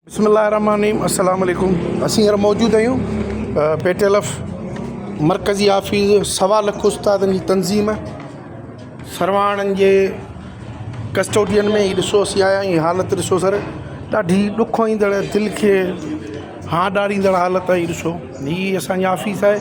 بسم الله الرحمن الرحيم السلام عليڪم اسين هينئر موجود آهيون پي ٽي ايل ايف مرڪزي آفيس سوا لک استادن جي تنظيم سرواڻن جي ڪسٽوڊين ۾ هي ڏسو اسين آيا آهيون حالت ڏسو سر ڏاڍي ڏک ايندڙ دل کي هان ڏاريندڙ حالت آهي ڏسو هي اسانجي آفيس آهي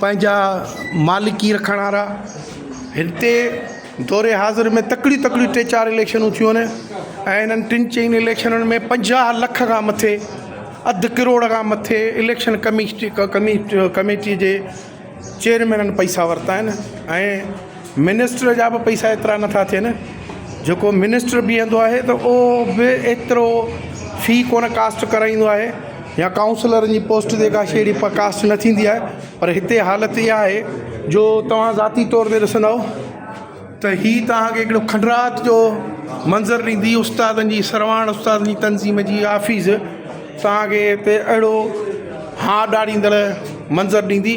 پنهنجا مالڪي رکڻ وارا هتي دور حاضر ۾ تڪڙيون تڪڙيون ٽي چار اليڪشنون ٿيون آهن ۽ انهن ٽن چئن اليڪشنن ۾ پنجاهه لک کان مٿي اڌ ڪروڙ کان مٿي اليڪشن ڪميشٽ ڪميٽ ڪميٽي جي چيئرمينن پئسا ورتا آهن ۽ منسٽر جا به پئسا ايترا نٿا ٿين جيڪو منسٽر بيهندو آهي ته اهو به ايترو في ڪونه ڪاسٽ ڪرائيندو آهي يا ڪائونسلرن جي پوسٽ تي ڪا شيڙي پ ڪاسٽ نه ٿيندي آهي پر هتي حالت اها آهي جو توهان ذاتي طور تي ڏسندؤ ته هي توهانکي هڪڙو کنڊرات جو منظر ڏيندي استادن جي سرواڻ استادن جي تنظيم جي آفيس توهانکي هتي اهڙو هاء ڏاڙيندڙ منظر ڏيندي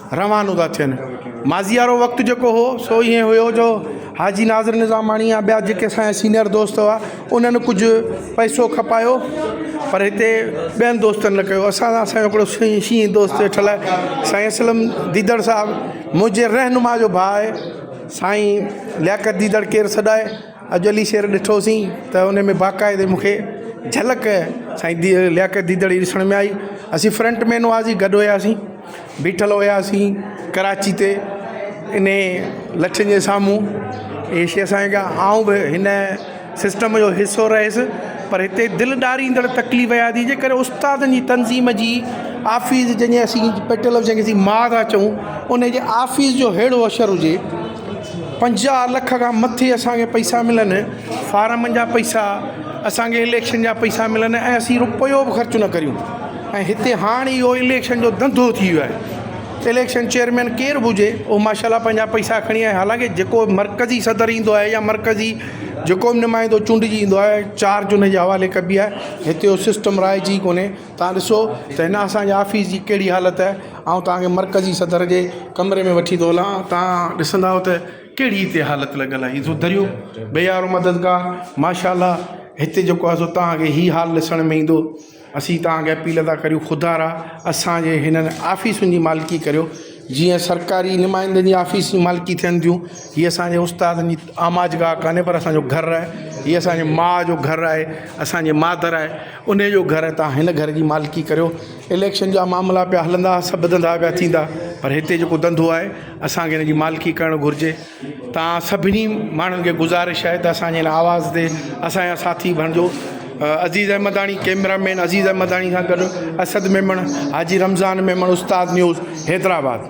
روانو ٿا ٿين. ماضي وارو وقت جيڪو هو سو ائين هيو جو حاجي ناظر نظاماڻي يا ٻيا جيڪي اسان جا سينئر دوست هئا انهن ڪجهه پئسو کپايو پر هتي ٻين دوستن نه ڪيو اسان سان اسان جو هڪڙو سائين شينهن دوست ويٺل آهي سائين اسلم ديدڙ صاحب منهنجي رهنما جو ڀاء آهي سائين لياقت ديدڙ ڪير سڏائي اڄ علي شير ڏٺوسين ته ان ۾ باقاعدي مونکي جهلڪ سائين لياقت ديدڙ جي ڏسڻ ۾ آئي اسين فرنٽ مين هئاسين گڏ هياسين بيٺل هياسين ڪراچي تي انهي لٺين جي سامهون اهي شيخ سائين کان آئون به هن سسٽم جو حصو رهيس پر هتي دل ڏاريندڙ تڪليف اها ٿي جي ڪڏهن استادن جي تنظيم جي آفيس جنهن جي اسين پيٽرل هائوس جنهن کي اسين ما ٿا چئون انهي جي آفيس جو ههڙو اشر هجي پنجاهه لک کان مٿي اسانکي پئسا ملن فارمن جا پئسا اسانکي اليڪشن جا پئسا ملن ۽ اسين رپيو به خرچ نه ڪريون ۽ هتي هاڻ اهو اليڪشن جو ڌنڌو ٿي ويو آهي اليڪشن چيئرمين ڪير به هجي اهو ماشا الله پنهنجا پئسا کڻي ۽ حالانڪه جيڪو مرڪزي صدر ايندو آهي يا مرڪزي جيڪو به نمائندو چونڊجي ايندو آهي چارج ان جي حوالي ڪبي آهي هتي اهو سسٽم رائج ئي ڪونهي تان ڏسو ته هن اسانجي آفيس جي ڪهڙي حالت آهي آئون تانکي مرڪزي صدر جي ڪمري ۾ وٺي ٿو هلان تان ڏسندا آهيو ته ڪهڙي هتي حالت لڳل آهي هي ڏسو دريون بيارو مددگار ماشا الله هتي جيڪو آهي سو تانکي هي حال ڏسڻ ۾ ايندو اسين توهان کي اپيل ٿا ڪريون خدارا اسان جي هنن آفيسن جي مالڪي ڪريو جيئن سرڪاري نمائندن جي آفيس جي مالڪي ٿين ٿيون هي اسانجي استادن جي آماج گاهه ڪانهي پر اسانجو گهر آهي هي اسانجي ماء جو گهر آهي اسانجي مادر آهي انهي جو گهر آهي توهان هن گهر جي مالڪي ڪريو اليڪشن جا معاملا پيا هلندا سڀ ڌندا پيا ٿيندا پر هتي جيڪو ڌنڌو آهي اسانکي هن جي مالڪي ڪرڻ گهرجي توهان سڀني ماڻهن کي گذارش آهي ته اسان جي هن آواز تي اسان جا ساٿي بڻجو عزيز احمداڻي ڪيمرا مين عزيز احمداڻي سان گڏ اسد ميمڻ حاجي رمضان ميمڻ استاد نيوز حيدرآباد.